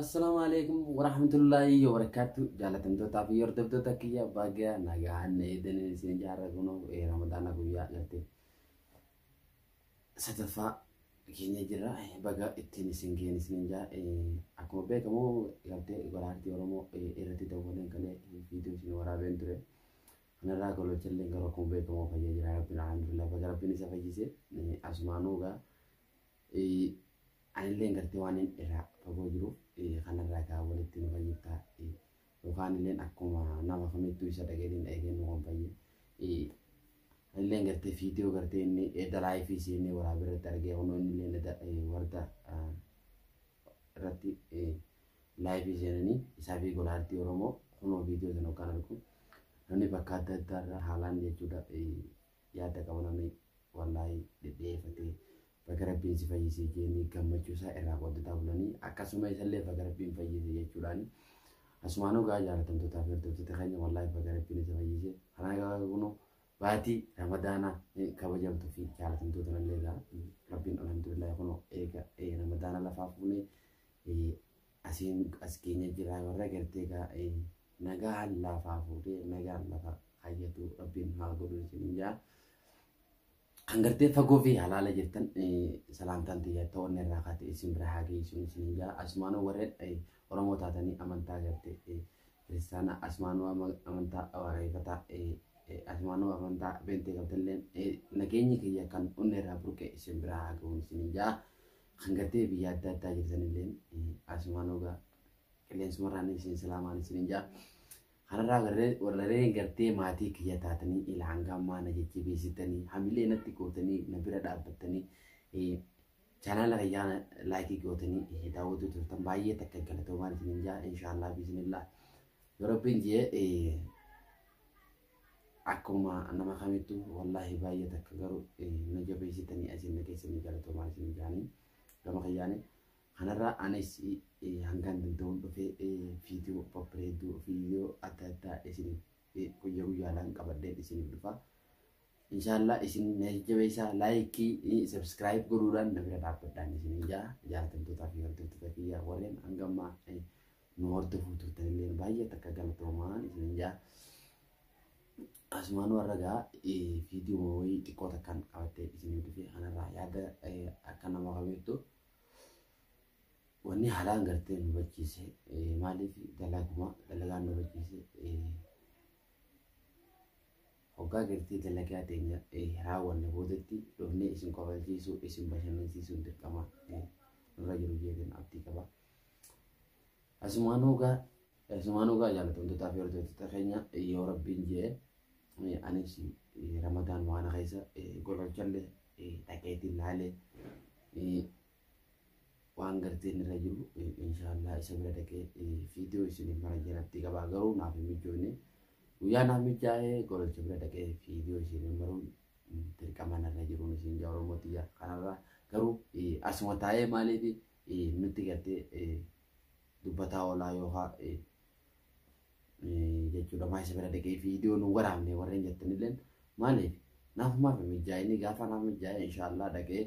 Assalaamu alaikum warahmatullaahi wabarakaatu jaalatamtootaa fi hordoftoota kiyya baga nagaan na eegdanii isin jaarra kunoo ee ramadaana guyyaa garte sadaffaa keenya jira Eh, baga ittiin isin geenye isin jaa Eh, akkuma beekamu galtee golaartii oromoo eh, irratti daawwateen kalee viidiyoo isin waraabeen ture kanarraa gololchallee garuu akkuma beekamu fayyaa jira rabbiin alhamdulillah baga rabbiin isa fayyise Eh, asumaanuu gaa Anilleen gartee waan inni irraa fagoo jiruuf kanarraa kaa walitti nu fayyiftaa yookaan illeen akkuma nama kamittuu isa dhageetiin dhageetiin nu kan fayye. Anilleen gartee fiidiyoo gartee inni edda laayifii siinee waraabee irratti argee kunoo inni illeen edda warda irratti laayifii seenanii isaa fi gola artii Oromoo kunoo fiidiyoo sana yookaan argu namni bakka adda addaa irraa haalaan jechuudha yaadda qabu namni wallaahi dhidhiyeeffatee baga rabbiin si fayyisee jeenii gammachuu isaa irraa qooddataa bulanii akkasuma isallee baga rabbiin fayyise jechuudhaan asumaan ogaa jaalatamtootaa fi hordoftoota keenya wallaahi baga rabbiin isa fayyise kanaa gabaa kunoo baatii ramadaanaa kabajamtu fi jaalatamtoota nallee egaa rabbiin alhamdulillah kunoo eega ramadaana lafaa fuunee Asiin as keenya jiraa warra gartee kaa nagaan laafaa fuudhee nagaan lafa hayyatu rabbiin haa godhu isiniin jaa. Kan gartee fagoo fi halaala jirtan salaamtaan tiyya ta'oon irraa kaate isin bira haa geessu isiniin jaa. Asumaanuu warreen Oromoo taatanii amantaa gartee kiristaana asumaanuu amantaa waaqayyofataa asumaanuu amantaa beentee qabdalleen nageenyi kiyya kan onnee irraa burqe isin bira haa ga'u isiniin jaa. Kan gartee biyya adda addaa jirtan illeen asumaan ogaa qilleensumarraan isin salaamaan isin hin ja'a. Kanarraa warreen warreen gartee maatii kiyya taatanii ila hanga ammaa na jajjabeessitanii hamilee natti gootanii na bira dhaabbattanii eh, chaanaala kiyyaa na- laayikii gootanii eh, daawwatuu turtan baay'ee takka galatoomaan isin hin ja'a inshaallah biisinillah. Yoo rabbiin jee eh, Akkuma nama kamittu wallaahi baay'ee takka garuu na jabeessitanii asiin na keessanii galatoomaa isin jaanii gama kiyyaanii kanarraa anis hangaan danda'uun dhufee viidiyoo babbareedduu viidiyoo adda addaa isiniif guyyaa guyyaadhaan qabadheen isiniif dhufa. Inshaallah isin na jajjabeessaa laayikii sabskiraayib godhuudhaan na bira dhaabbadhaan isin ijaa jaatamtootaa fi hordoftoota kiyyaa warreen hangammaa nu hordofuu turtan illee baay'ee takka galatoomaan isin jaa asumaan warra gaa viidiyoo wayii xiqqoo takkaan qabattee isin dhufee kanarraa yaada akka nama qabeettu wanni haalaan gartee nu hubachiise maaliif dalaguma dalagaan nu hubachiise hoggaa gartee dalagaa teenya raawwanne boodatti dhufnee isin kofalchiisuu isin bashannansiisuun dirqama nurra jiru jeetiin abdii qaba. Asumaan hoogaa asumaan hoogaa jaalatamtootaa fi hordoftoota keenya yoo rabbiin jee anis ramadaan waan keessa gololchallee dhaqeetiin laalee waan garteen irra jiru inshaallah isa bira dhaqee viidiyoo isiniif mara jalatti qabaa garuu naaf hin mijoone guyyaa naaf mijaa'ee gololcha bira dhaqee viidiyoo isiniif maruun dirqama narra jiruun isin jaa oromoo tiyya kanarraa garuu asuma taa'ee maaliifi nutti gartee dubbataa oolaa yookaa jechuudha maa isa bira dhaqee viidiyoo nu waraabne warreen jettanillee maaliif naafumaaf mijaa'inni gaafa naaf mijaa'e inshaallah dhaqee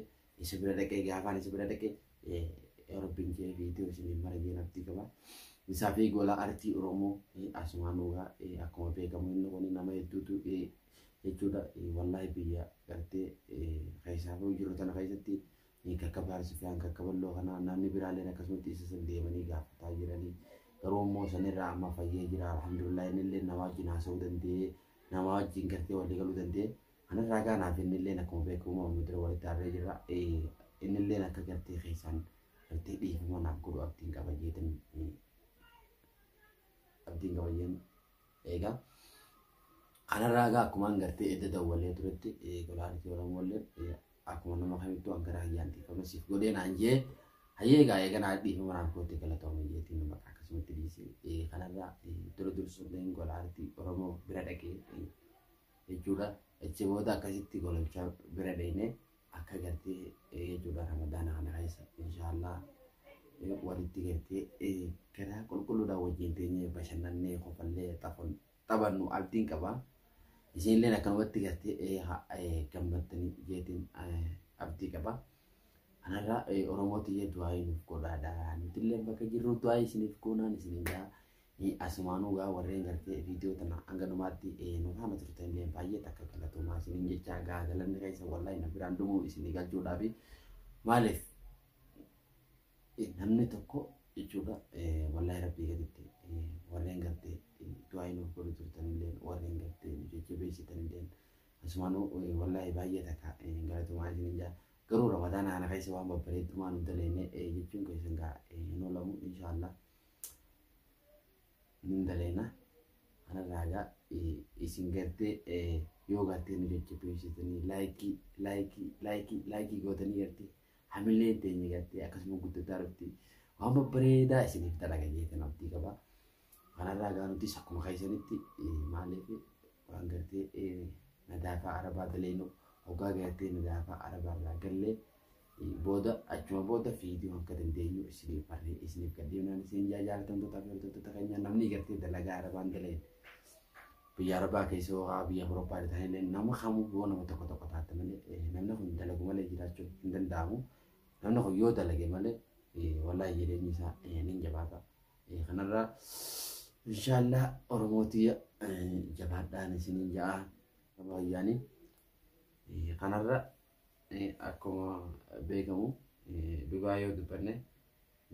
isa bira dhaqee gaafaan isa bira dhaqee rabbiin jee viidiyoo isiniif maragee naftii qaba. Isaa fi gola artii Oromoo asumaan dhugaa akkuma beekamu inni kun nama hedduutu jechuudha wallaahi biyya gartee keessaa fi jiru tana keessatti Ni kakkabaar sifiyaan kakkaballoo kana naanni biraaleen akkasumatti isa san deemanii gaafataa jiranii garuu immoo sanirraa amma fayyee jira alhamdulillah innillee nama wajjin haasa'uu danda'ee nama wajjin gartee walii galuu danda'ee kanarraa gaanaaf innillee akkuma beekamu amma dura walitti aarree jirra innillee akka gartee keessaan gartee dhiifama naaf godhu abdiin qaba jeetan abdiin qaba jeen Egaa kanarraa egaa akkumaan gartee edda dawwalee turetti qolaanitii Oromoollee akkuma nama kamittuu akka garaa kiyyaan dhiifama siif godhee naan jee hayyee egaa eega naa dhiifama naan kootti galatoomii jeetiin nama akkasumatti dhiisee kanarraa dura dursuudhaan qolaanitii Oromoo bira dhaqee jechuudha. Achi booda akkasitti gololchaa bira dheenee akka gartee jechuudha ramadaana kana keessa inshaallah walitti gartee garaa qulqulluudhaan wajjin teenyee bashannannee kofallee xafon taphannu abdiin qaba isiinilleen akkanumatti gartee gammaddanii jeetiin abdii qaba kanarraa oromoo tiyya du'aayii nuuf godhaadha nutillee bakka jirru du'aayii isiniif goonaan isiniin gaa Hii asumaanuu gaa warreen gartee viidiyoo tana hanga dhumaatti nu faana turtan illee baay'ee takka galatoomaa isiniin jechaa gaa galanni keessa wallahi na biraan dhumuu isinii galchuudhaaf maaliif namni tokko jechuudha wallahi rabbii gaditti warreen gartee du'aa nuuf godhu turtan illee warreen gartee nu jajjabeessitan illee asumaanuu wallahi baay'ee takka galatoomaa isiniin jaa garuu ramadaana kana keessa waan babbareeddumaa nu daleenne jechuun keessan gaa hin oolamu inshaallah. Nin daleena. Ana raagaa isin gartee yoo gartee nu jajjabeessitanii laayikii laayikii laayikii laayikii gootanii gartee hamilee teenya gartee akkasuma guddataa dhufti. Waan babbareedaa isiniif dalaga jeetan abdii qaba. Kana raagaa nutis akkuma keessanitti maaliif waan gartee nadaafaa arabaa daleenu hoggaa gartee nadaafaa arabaa irraa gallee booda achuma booda viidiyoo akka dandeenyu isiniif barree isiniif gaddeemnaan isin jaajaalatamtoota fi hordoftoota keenya namni gartee dalagaa arabaan daleen biyya arabaa keessa hoo'aa biyya Awurooppaa irra taa'ee nama kamuu yoo nama tokko tokko taate malee namni kun dalagu malee jiraachuu hin danda'amu namni kun yoo dalage malee wallaahi jireenyi isaa ni jabaata kanarraa inshaallah oromootii jabaadhaan isiniin ja'a baay'aanii kanarra Akkuma beekamu dhugaa yoo dubbanne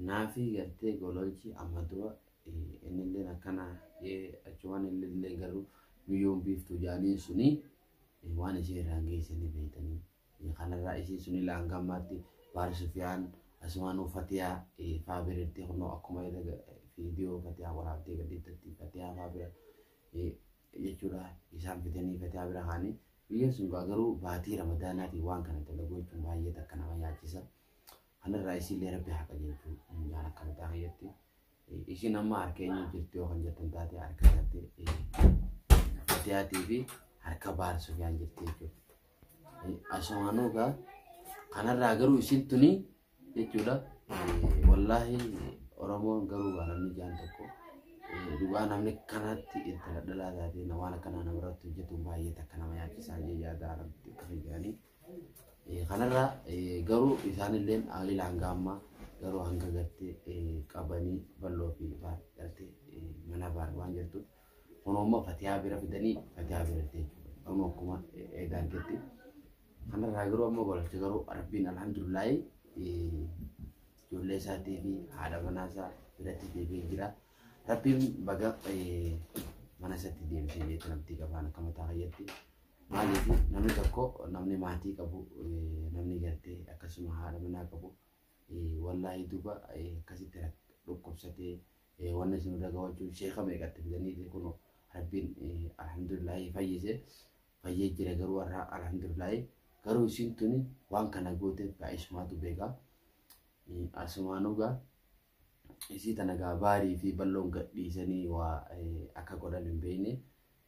naafii gartee gololchi amma dura innilleen akkana jee achumaan innillee garuu biyyoon biiftuu jaaniin suni waan ishee irraan geesse ni beektanii. Kanarraa ishee suni laanga ammaatti baal sufiyaan asumaan uffatiyaa faa biratti kunoo akkuma viidiyoo fatiyaa waraabdee gadhiiftatti fatiyaa faa bira jechuudha isaan fidanii fataa bira kaanii biyyoon sun gaa garuu baatii ramadaanaatiin waan kana dalaguu jechuun baay'ee takka nama yaachisa kanarraa isiillee rabbi haa qajeelchu jaan akka mataa kiyyatti ishiin amma harka eenyu jirti yoo kan jettan taate harka taate fatiyaatii fi harka baar sufiyaan jirti jechuudha asumaanuu gaa kanarraa garuu isiin tuni jechuudha. Wallaahi Oromoon garuu waa namni jaan tokko dhugaa namni kanatti itti dhadhalaa taatee waan akkanaa nama irratti hojjetuun baay'ee takka nama yaachisaa jee yaadaa irratti akka fayyadanii. Kanarraa garuu isaanillee haalila hanga ammaa garuu hanga gartee qabanii bal'oo fi baar gartee mana baar waan jirtuuf Kunoo immoo fatiyaa bira fidanii fatiyaa bira itti jechuudha. Amma akkuma eegaa argetti. Kanarraa garuu amma balatti garuu rabbiin alhamdulillahi ijoollee isaatii fi haadha manaa isaa biratti deebi'ee jira. Rabbiin baga mana isaatti deebisee jeetti namtii qabaan akka mataa fayyatti. Maaliif namni tokko namni maatii qabu namni gartee akkasuma haadha manaa qabu wallaahi duuba akkasitti dhukkubsatee Wanna isin irra gawachuun sheeka meeqa itti fidaniiti kun rabbiin alhamdulillaahi fayyise fayyee jira garuu har'a alhamdulillaahi garuu isin tuni waan kana gooteef gaa isumaatu beeka asumaanuu gaa isii tana gaa baarii fi balloon gadhiisanii waa akka godhan hin beekne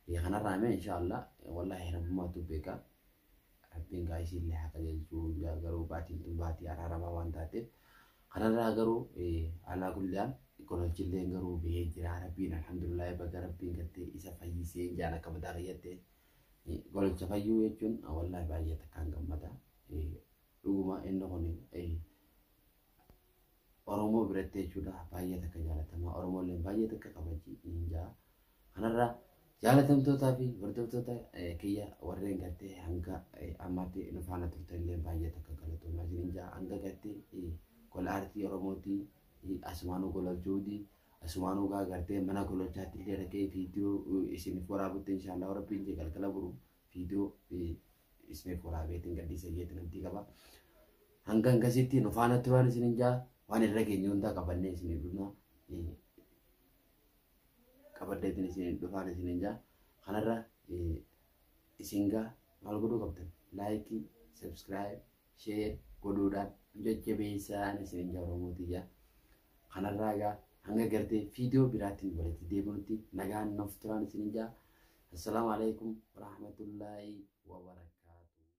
Biyya kanarraa himee inshaallah wallahi rabbumaatu beeka rabbiin gaa isiillee haa qajeelchuu gaa garuu baatiin tun baatii araaramaa waan taateef kanarraa garuu alaa kulliyaan kololchilleen garuu bihee jira rabbiin alhamdulillahi baga rabbiin gattee isa fayyisee jaan akka mataa kiyyattee kololcha fayyuu jechuun wallahi baay'ee takkaan gammada dhuguma inni kun Oromoo biratti jechuudha baay'ee takka jaalatamaa Oromoolleen baay'ee takka kabajji niin jaa. Kanarraa jaalatamtootaa fi hordoftoota eh, kiyya warreen gartee hanga eh, ammaatti nu faana turtanillee baay'ee takka galatoomaa isiniin jaa. Hanga gartee eh, gola aartii Oromooti eh, asumaanuu gola juudi asumaanuu gaa gartee mana gololchaatti illee dhaqee viidiyoo eh, isiniif waraabutti inshaallah rabbiin jee galgala buru viidiyoo eh, Isbeek waraabeetiin gadhiisa jeetti namtii qaba. Hanga hangasitti nu faana turaan isin hin jaa waan irra keenya hundaa qabannee isin hin dhufna. Qabaddeetiin isin hin dhufaan isin hin jaa. Kanarra isin gaa maal godhuu qabdan? Laayikii, sabskiraayib, share godhuudhaan nu jajjabeessaa ani isiniin jaa Oromoo tiyya. Kanarraa egaa hanga gartee viidiyoo biraatiin walitti deebinutti nagaan nuuf turaan isiniin jaa. Assalaamu alaikum warahmatullaahi wabarakaatuh.